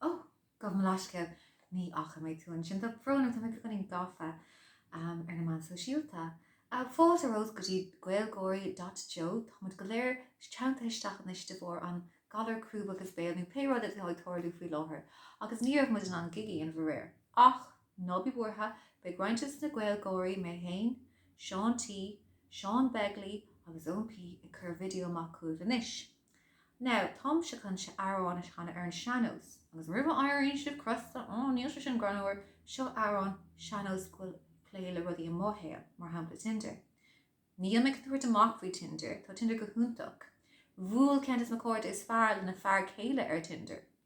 Ó, gabh mo leithscéal, ní fhaca mé tú ansin. Tá brón orm, tá mé beagáinín gafa ar na meáin shóisialta. Fáilte romhat go dtí Gaelgáirí dot jo. Táimid go léir teanntaithe isteach anois de bharr an galar crúb agus béil, nó pé rud atá ag tarlú faoi láthair, agus ní raibh muid in ann gig a dhéanamh aréir, ach. Ná bí buartha, beidh roinnt des na Gaelgáirí, mé fhéin, Seán T, Seán Begley agus Eoin P ag cur video amach chugaibh anois. Now, táimse chun amhrán a chanadh ar an sean-nós, agus roimh a éiríonn sibh crosta, á, níl sé sin greannmhar, seo amhrán sean-nós go bhfuil plé le rudaí i mo shaol, mar shampla Tinder. Níl mé ag tabhairt amach faoi Tinder, tá Tinder go hiontach. Bhuail ceann des mo chairde is fearr lena fear céile ar Tinder.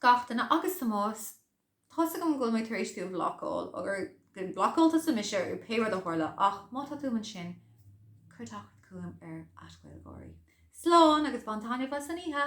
Gach duine agus Tomás. Tá's agam go bhfuil mé tar éis tú a bhlocáil, agus gur bhlocáil tusa mise i pé rud a tharla, ach má tá tú ansin, cuir teacht chugam ar @gaelgáirí. Slán agus bain taitneamh as an oíche!